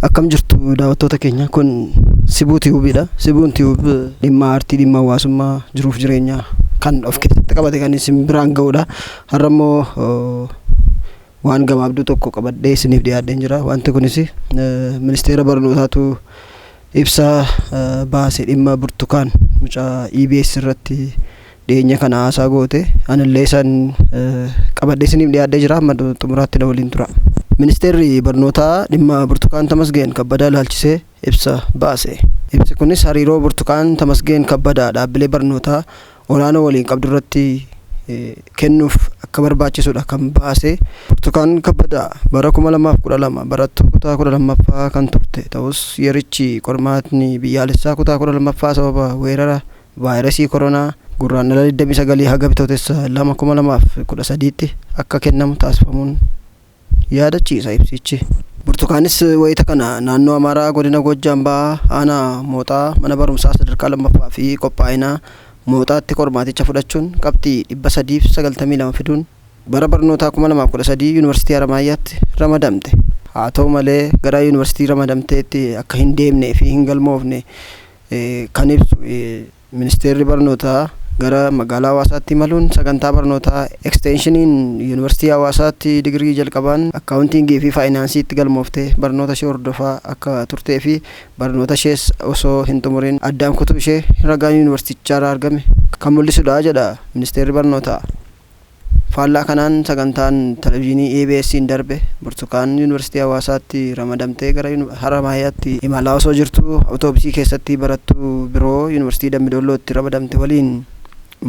Akkam jirtu daawwattoota keenya kun Sibuu Tiyuubiidha. Sibuun Tiyuub dhimma aartii, dhimma hawaasummaa, jiruuf jireenya kan of keessatti qabate kan isin biraan ga'udha. Har'a immoo waan gabaabduu tokko qabadhee isiniif dhiyaadheen jira. Wanti kunis ministeera barnootaatu ibsa baase dhimma burtukaan mucaa EBS irratti dhiyeenya kana haasaa goote anillee isaan qabadhee isiniif dhiyaadhee jira amma xumuraatti na waliin tura. Ministeerri barnootaa dhimma Burtukaan Tamasgeen Kabbadaa ilaalchisee ibsa baase. Ibsi kunis hariiroo Burtukaan Tamasgeen Kabbadaa dhaabbilee barnootaa olaanoo waliin qabdu irratti kennuuf akka barbaachisudha kan baase. Burtukaan Kabbadaa bara 2012 barattuu kutaa 12ffaa kan turte ta'us yerichi qormaatni biyyaalessaa kutaa 12ffaa sababa weerara Vaayirasii Koronaa Gurraandhala 29 haga Bitootessa 2, 2013tti akka kennamu taasifamuun yaadachiisa ibsichi. Burtukaanis wayita kana naannoo Amaaraa godina Goojjaam Bahaa aanaa Mooxaa mana barumsaa sadarkaa 2ffaa fi qophaa'inaa Mooxaatti qormaaticha fudhachuun qabxii 392 fiduun bara barnootaa 2013 Yuunivarsiitii Haramaayyaatti ramadamte. Haa ta'u malee gara Yuunivarsiitii ramadamteetti akka hin deemnee fi hin galmoofne kan ibsu Ministeerri Barnootaa gara magaalaa Hawaasaatti imaluun sagantaa barnootaa eksteenshiiniin Yuunivarsiitii Hawaasaatti digirii jalqabaan akkaawuntiingii fi faayinaansiitti galmoofte barnoota ishee hordofaa akka turtee fi barnoota ishees osoo hin xumuriin addaan kutuu ishee ragaan yuunivarsiitichaarraa argame kan mul'isudha jedha Ministeerri Barnootaa. Faallaa kanaan sagantaan Televizhiinii EBSn darbe Burtukaan Yuunivarsiitii Hawaasaatti ramadamtee gara Haramaayaatti imalaa osoo jirtuu Awutoobisii keessatti barattuu biroo Yuunivarsiitii Dambi Doollootti ramadamte waliin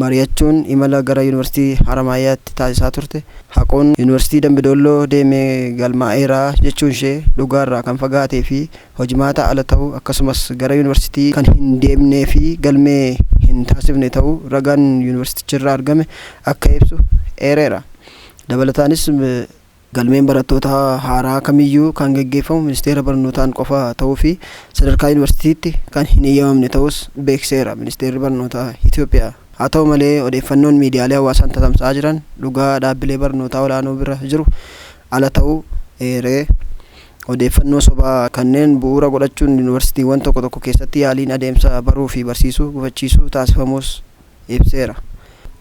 mariyachuun imala gara Yuunivarsiitii Haramaayaatti taasisaa turte haquun Yuunivarsiitii Dambi Doolloo deeme galmaa'eera jechuunshee dhugaarraa kan fagaatee fi hojmaataa ala ta'uu akkasumas gara Yuunivarsiitii kan hin deemnee fi galmee hin taasifne ta'uu ragaan Yuunivarsiiticharraa argame akka ibsu eereera. Dabalataanis galmeen barattoota haaraa kamiyyuu kan geggeeffamu Ministeera Barnootaan qofa ta'uu fi sadarkaa Yuunivarsiitiitti kan hin eeyyamamne ta'uus beeksiseera Ministeerri Barnootaa Itoophiyaa. Haa ta'u malee odeeffannoon miidiyaalee hawaasaan tatamsa'aa jiran dhugaa dhaabbilee barnootaa olaanoo bira jiru ala ta'uu eere. Odeeffannoo sobaa kanneen bu'uura godhachuun yunivarsiitiiwwan tokko tokko keessatti yaaliin adeemsa baruufi barsiisuu gufachiisuu taasifamuus ibseera.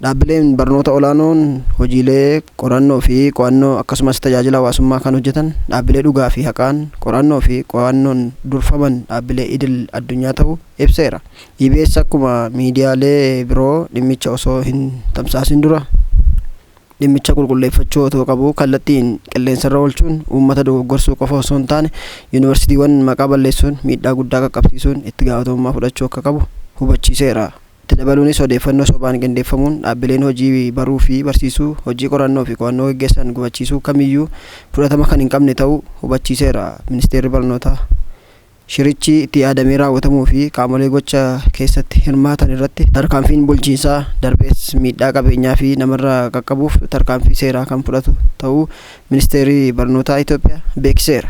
Dhaabbileen barnoota olaanoon hojiilee qorannoofi qo'annoo akkasumas tajaajila hawaasummaa kan hojjetan dhaabbilee dhugaafi haqaan qorannoofi qo'annoon durfaman dhaabbilee idil addunyaa ta'uu ibseera. EBS akkuma miidiyaalee biroo dhimmicha osoo hin tamsaasin dura, dhimmicha qulqulleeffachuu otoo qabuu kallattiin qilleensarra oolchuun uummata dogoggorsuu qofa osoo hin taane yuunivarsiitiiwwan maqaa balleessuun miidhaa guddaa qaqqabsiisuun itti gaafatamummaa fudhachuu akka qabu hubachiiseera. Itti dabaluunis odeeffannoo sobaan qindeeffamuun dhaabbileen hojii baruu fi barsiisuu, hojii qorannoo fi qo'annoo geggeessan gufachiisuu kamiyyuu fudhatama kan hin qabne ta'uu hubachiiseera Ministeerri Barnootaa. Shirichi itti yaadamee raawwatamuu fi qaamolee gocha keessatti hirmaatan irratti tarkaanfiin bulchiinsaa, darbees miidhaa qabeenyaa fi namarra qaqqabuuf tarkaanfii seeraa kan fudhatu ta'uu Ministeerri Barnootaa Itoophiyaa beeksiseera.